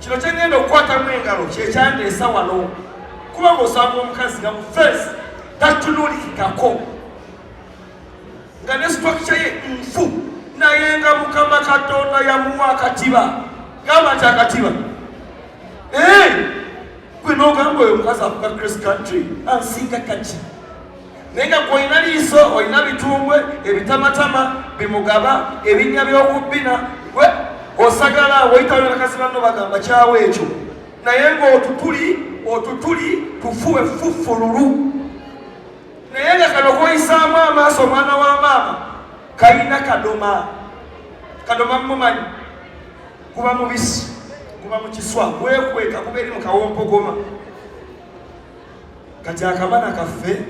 kino kyengenda okukwatamu engalo kyekyandeesa wano kuba ngaosanga omukazi nga mufeesi tatunulikikako nga ne situakikya ye nfu naye nga mukama katonda yamuwa akatiba gamba nti akatiba eh! gwe nogamba oyo omukazi akuga chris country ansinga kaki naye nga gwolina liiso olina bitumbwe ebitamatama bimugaba ebinnya by'okubbina gwe osagala woyitaonakazi banno bagamba kyawo ekyo naye ng'otutuli otutuli tufu effuffululu naye nga kano koyisaamu amaaso omwana wa maama kalina kadoma kadoma mumumanyi kuba mubisi kuba mu kiswa gwekweka kuba eri mu kawompogoma kati akabana kaffe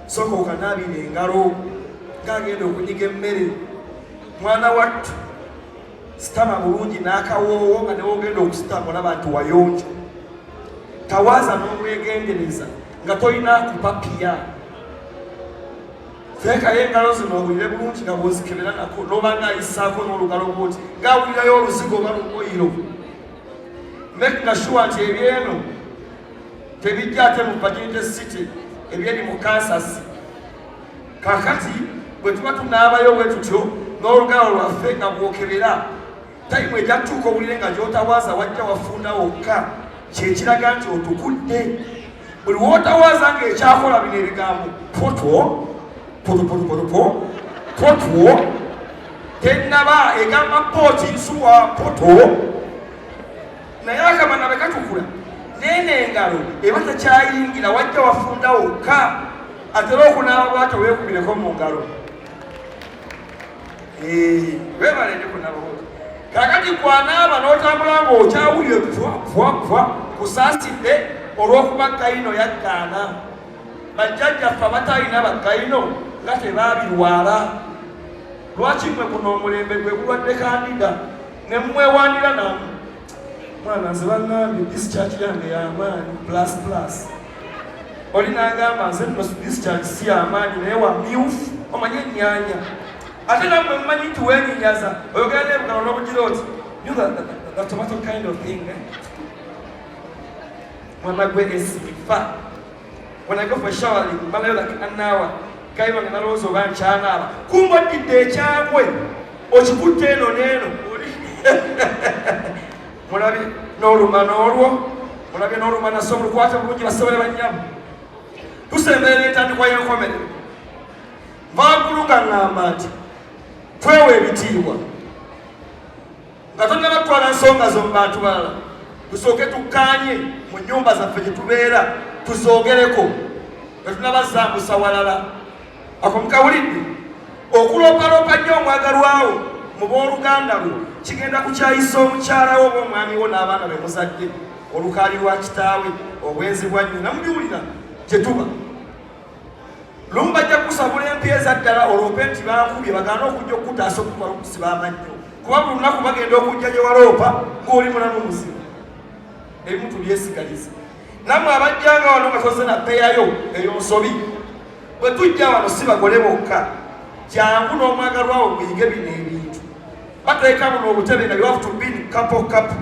soka okanaabira engalo ng'agenda okunyiga emmere mwana wattu sitama bulungi n'akawoowo nga newogenda okusitama olaba nti wayonjo tawaaza n'obwegendereza nga tolina kupapiya teekayo engalo zino owulire bulungi nga bwozikebera nako n'oba ng'ayisaako n'olugalo bwoti ng'awulirayo oluzigo oba lumoyiro neknashuwa nti ebyeno tebijja ate mu virginity city ebyeri mu kansas kakati bwe tuba tunaabayo bwe tutyo n'olugalo lwaffe nga bwokebera tayimu ejja kutuuka owulire nga gyotawaaza wajja wafunda wokka kyekiraga nti otukudde buli wotawaaza nga ekyakola bino ebigambo potwo potopotopotopo potwo tenaba egamba pooti nsuwa poto naye akamana bwe katukula neeno engalo eba tekyayingira wajja wafunda wokka atera okunaaba bwatyo weekubireko mu ngalo webale ndi kunabawo kakati kwanaaba n'otambula ng'okyawulire vwavwa kusaasidde olw'okuba kayino yaggaana bajjajjaffe abatalina bakayino nga tebabirwala lwaki mwe kuno omulembe gwe gulwadde kandida ne mumwewaanira namu mwana nze bangambye this church yange yamaanyi plus plus oli nangamba nze nno this church si yamaanyi naye wa myufu omanye ennyanya ate namwe mumanyi nti wenyinyaza oyogera nebugano nobugira oti the tomato kind of thing eh? mwana gwe esifa When I go for showering, mbalayo like an hour. Guy wange nalowooza oba nkyanaaba. Kumba oddidde ekyagwe. Okikutte eno n'eno. Mulabi n'oluma n'olwo. Mulabi n'oluma nasa olukwata bulungi basebole bannyamu. Tusemberera entandikwa y'enkomere. Vaagulu nga ng'amba nti twewa ebitiibwa. nga tonnaba kutwala nsonga zo mu bantu balala tusooke tukkaanye mu nnyumba zaffe gye tubeera tuzoogereko nga tunabazambusa walala ako mukawulidde okuloopaloopa nnyo omwagalwawo mu booluganda lwo kigenda kukyayisa omukyala wo oba omwami wo n'abaana be muzadde olukaali lwa kitaawe obwenzi bwa nnyina mubiwulira gye tuba lumu bajja kusabula empi eza ddala oloope nti bankubye bagaana okujja okukutaasa okukwala okusiba amannyo kuba buli lunaku bagenda okujja gye waloopa ng'oli mulamu muzibu ebimutu byesigaliza nammwe abajja nga wano nga toze napeyayo eyo nsobi bwe tujja wano si bagole bokka jangu n'omwagalwawo muyige bino ebintu bateekamu n'obutebe nga you have to be couple couple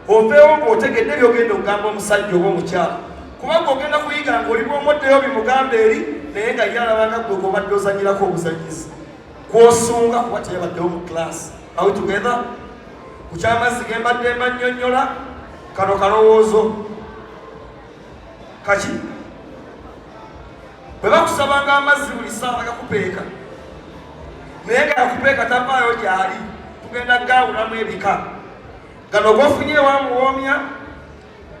oveewo ng'otegedde byogenda okugamba omusajja oba omukyala kubanga ogenda kuyiga ng'oli bwomoddeyo bimugamba eri naye nga ye alabanga gwe gwobadde ozanyirako obuzanyizi kwosunga kuba teyabaddewo mu class awe together ku kyamazzi gembadde mbanyonyola kano kalowoozo kaki bwe bakusabanga amazzi buli saawa gakupeeka naye nga yakupeeka tavaayo gyali tugenda gaawulamu ebika Gano gofunye ewa muwoomya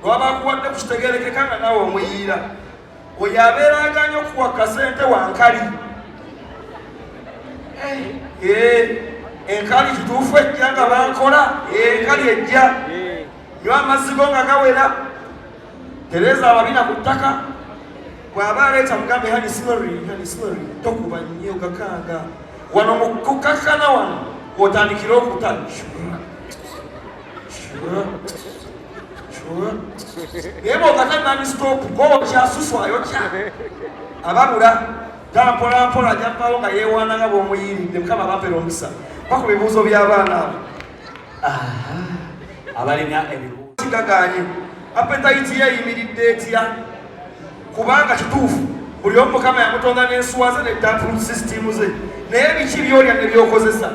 lwabakuwadde kukitegerekeka nga nawe omuyiira oyo abeeranga nyo okuwa kasente wankali eh, eh, enkali kituufu ejja nga bankola eh, enkali ejja nyo amazzi go nga gawera tereza ababina ku ttaka bw'aba aleeta mugambe hani simari hani simari tokuba nnyo gakanga wano mu kukakkana wano otandikire okuta naye bwokata nani stop gookya susu ayokya ababula daa mpolampola ajja kubawo nga yeewaana nga bwomuyiiridde mukama abampera omukisa baku bibuuzo by'abaana abo abalina ebibuuzogaganye apetayiti yeeyimiridde etya kubanga kituufu buli omu mukama yamutonda n'ensuwa ze ne dapul system ze naye biki byolya ne byokozesa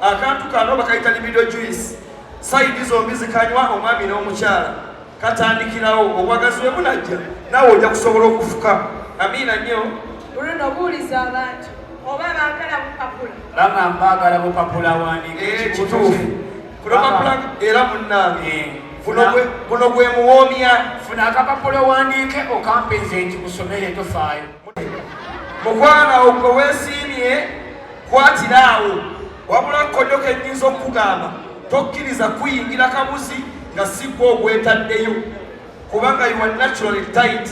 akantu kano bakayita libido juice sayidi zombi zikanywa omwami n'omukyala katandikirawo obwagazi bwe bunajja naawe ojja kusobola okufuka amiina nnyo oluno buuliza abantu oba baagala bupapula bama mbaagala bupapula wandika eh, ekituufu kulopapula era munnange eh. guno gwe muwoomya funa akapapula owandiike okampenze nti musomere tofaayo mukwano awo gwe weesiimye kwatira awo wabula kkodyo kenyinza okukugamba tokkiriza kuyingira kabuzi nga sigwa ogwetaddeyo kubanga yuwa naturally tight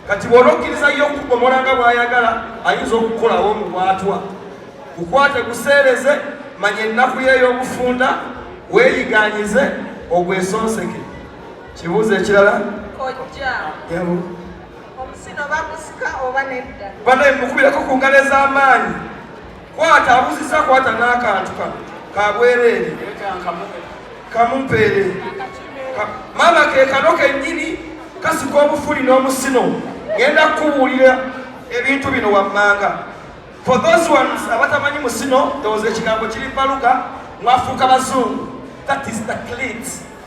kati bwona okkiriza yo okugomola nga bwayagala ayinza okukolawo omubwatwa kukwate kuseereze manya ennaku yey'obufunda weeyiganyize ogwesonseke kibuuzo ekirala kojja Omusino bagusika oba nedda? Banaye mukubirako ku ngalo ez'amaanyi. Kwata abuzizza kwata n'akantu kano ka bwereere kamumpeere. Maama ke kano kennyini kasika obufuli n'omusino. Ngenda kukubuulira ebintu bino wammanga. For those ones abatamanyi musino, there was a kigambo kiri baluga mwafuuka bazungu. That is the clit.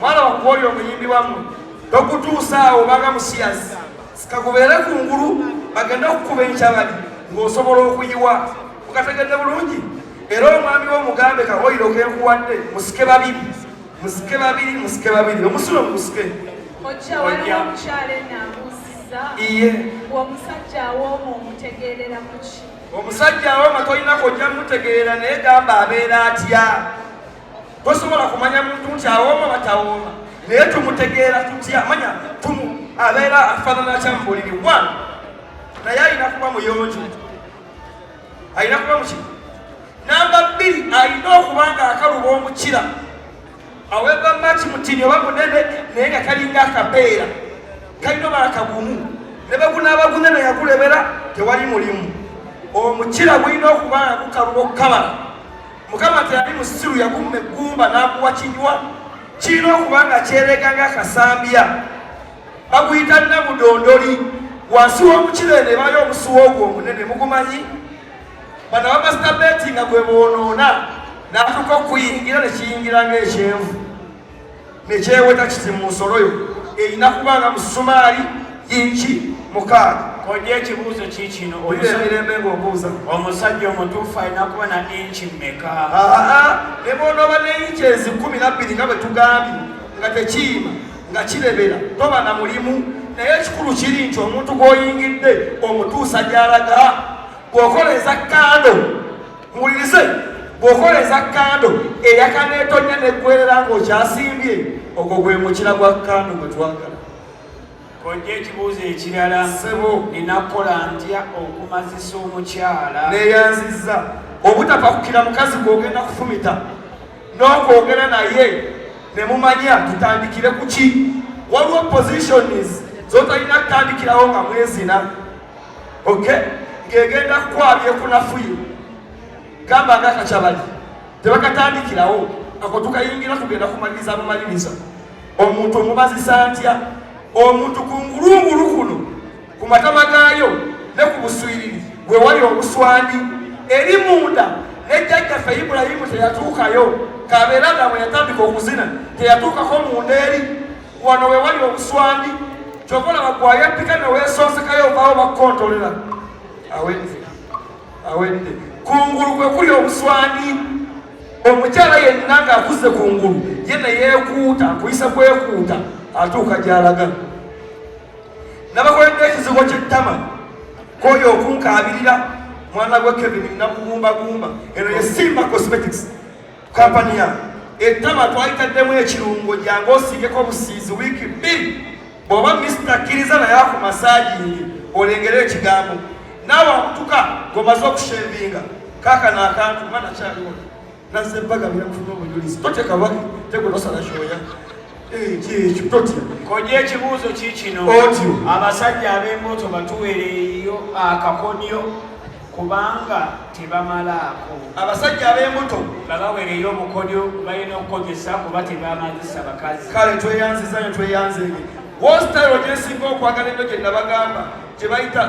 mwana wakuwoyo omuyimbi wamu tokutuusaawo obanga musiyazi sikakubeere ku ngulu bagende okukuba enkyabali ng'osobola okuyiwa mukategedde bulungi era omwami wo mugambe kawoyiro kenkuwadde musike babiri musike babiri musike babiri omusulo musike iye omusajja awoomu omutegeerera kuki omusajja awoma tolina kojja mutegeera naye gamba abeera atya tosobola kumanya muntu nti awooma batawooma naye tumutegeera tutya manya tumu abeera afaanana kya mubuliri wa naye alina kuba muyonjo alina kuba muki namba bbiri alina okuba nga akaluba omukira aweba maki mutini oba munene naye nga kalinga akabeera kalina oba akagumu ne begunaaba gunene yakulebera tewali mulimu omukira gulina okuba nga gukaluba okukabala mukama teyali musiru yakumma eggumba n'akuwa kinywa kirina okuba nga kyerega nga kasambya baguyita namudondoli wansi w'omukiro eno ebayo omusuwa ogwo omunene mugumanyi bano bamasitabeeti nga gwe boonoona n'atuuka okuyingira ne kiyingira ng'ekyenvu nekyeweta kiti mu nsolo yo erina kuba nga musumaali yinki mukaaga kojja ekibuuzo kikino omirembe ngaobuuza omusajja omutuufu alina kuba na inki mmeka ne bwonoba ne inki ezikumi nabbiri nga bwe tugambye nga tekiima nga kirebera toba na mulimu naye ekikulu kiri nti omuntu gw'oyingidde omutuusa gy'alaga bw'okola eza kando muwulirize bw'okola eza kando eyakaneetonnya neggwerera ng'okyasimbye ogwo gwe mukira gwa kando gwe twagala kojja ekibuuzo ekirala sebo ninakukola ntya okumazisa omukyala neyanziza obutapakukira mukazi gwogenda kufumita n'okwogera naye ne mumanya tutandikire ku ki waliwo positions zotalina kutandikirawo nga mwezina oke ng'egenda kukwabya ekunafuye gamba nga kakyabali tebakatandikirawo ako tukayingira kugenda kumaliriza bumaliriza omuntu omubazisa ntya omuntu ku ngulungulu kuno ku matama gaayo ne ku buswiriri we wali obuswandi eri munda nejjajjaffe ibulayimu teyatuukayo kabeera nga bwe yatandika okuzina teyatuukako munda eri wano wewali obuswandi kyova olaba gwayatika newesonsekayo ovaawo bakukontolera awedde awedde kungulu kwe kuli obuswandi omukyala yenna ng'akuze ku ngulu ye neyeekuuta akuyisa kwekuuta atuuka gy'alaga nabakoledde ekizigo ky'ettama kwoyo okunkaabirira mwana gwa kevin nakugumbagumba eno ye simba cosmetics kampani ya ettama twalitaddemu ekirungo gyange osiigeko obusiizi wiiki bbiri bw'oba misita kkiriza naye ako masaajingi olengere ekigambo naawe akutuka ng'omaze okushevinga kaakano akantu mba nakyaliwo nazze bagabira kufuna obujulizi toteka baki tegunosala kyoya kyekyo totya koja ekibuuzo kikino otyo abasajja ab'embuto batuwereeyo akakonyo kubanga tebamalaako abasajja ab'embuto babawereyo obukodyo balina okukozesa kuba tebamazisa bakazi kale tweyanziza nyo tweyanzege wositayiro gyesinga okwagala eno gye nabagamba gye bayita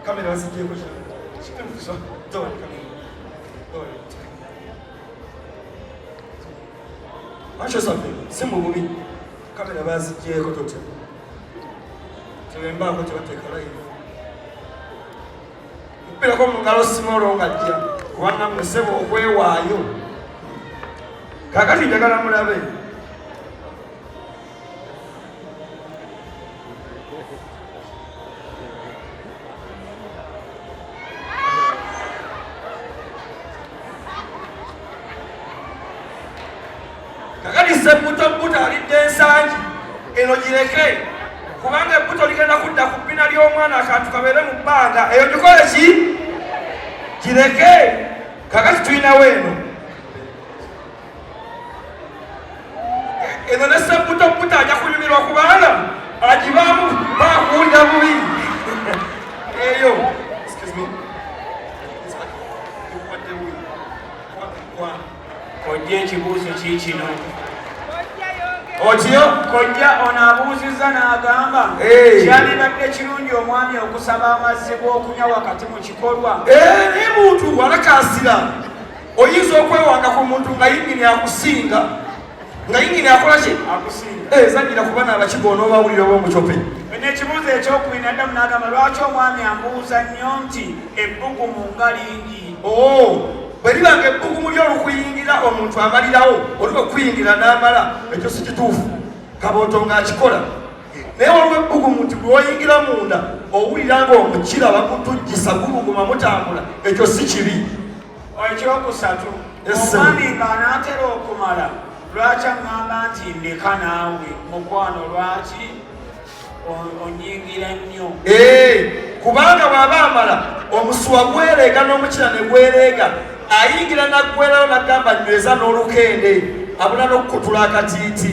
kamera bazijeko Acho sabe, simu bumi. Kamera bazigyeko totya. Telembaako tebateeka layivu. Mpirako mu ngalo simolo nga jja kubanga musebo okwewaayo. Kakati njagala mulabe. kakati sebbuto bbuto alidde ensangi eno gireke kubanga ebbuto ligenda kudda ku bbina ly'omwana akantu kabeere mu bbanga eyo gikole ki gireke kakati tulinawo eno eno ne sebbuto bbuto ajja kunyumirwa kubanga agibaamu bakuwulira bubi eyo Excuse me. It's like, what do we? What, what? kojja ekibuuzo kiikino otyo kojja ono abuuzizza n'agamba kyalibadde kirungi omwami okusaba amazzi g'okunywa wakati mu kikolwa naye muntu walakaasira oyinza okwewanga ku muntu nga yingini akusinga nga yingini akola ki eh, zanyira kuba nabakiga onooba awulira oba omucope nekibuuzo ekyokubiri naddamu nagamba lwaki omwami ambuuza nnyo nti ebbugumu nga lingi oh, bwe libanga ebbugumu lyolukuyingira omuntu amalirawo oli okuyingira n'amala ekyo si kituufu kabooto ng'akikola naye waliwo ebbugumu nti lwoyingira munda owulira nga omukira bakutujjisa gubuguma mutambula ekyo si kibi ekyokusatu omwami ng'anaatera okumala lwaki aŋŋamba nti ndeka naawe mukwano lwaki onyingira nnyo eh, kubanga bw'aba amala omusuwa gwereega n'omukira ne gwereega ayingira naggwerayo nagamba nyweza n'olukende abula n'okukutula akatiiti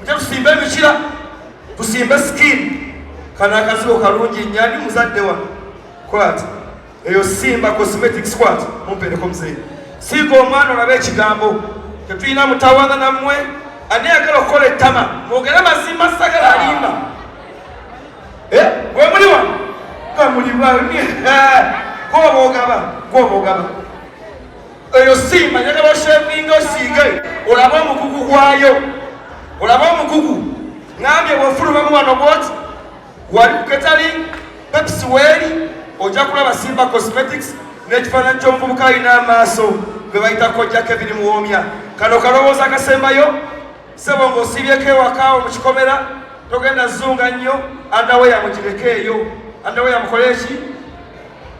Mujja tusimba ebikira, tusimbe skin. Kana akazibo kalungi nyani muzadde wa. Kwat. Eyo simba cosmetic squat mumpeleko mzee. Sigo omwana olabe ekigambo. Tetuyina mutawana na mwe. Ani agala okole tama. Mwogera mazima sagala alimba. Eh, we muli wa. Kamuli wa. Kwa bogaba, kwa bogaba. eyo simba njagala oshevinga osiige olabe omukugu gwayo olabe omukugu ngambye bwefulumamu wano bwoti wali kuketali pepsi weeri ojja kulaba simba cosmetics n'ekifaananyi ky'omuvubuka alina amaaso gwe bayita kojja kevin muwoomya kano kalowooza akasembayo sebo ng'osiibyeko ewakaawo mu kikomera togenda zunga nnyo andaweya mugireke eyo andaweya mukole eki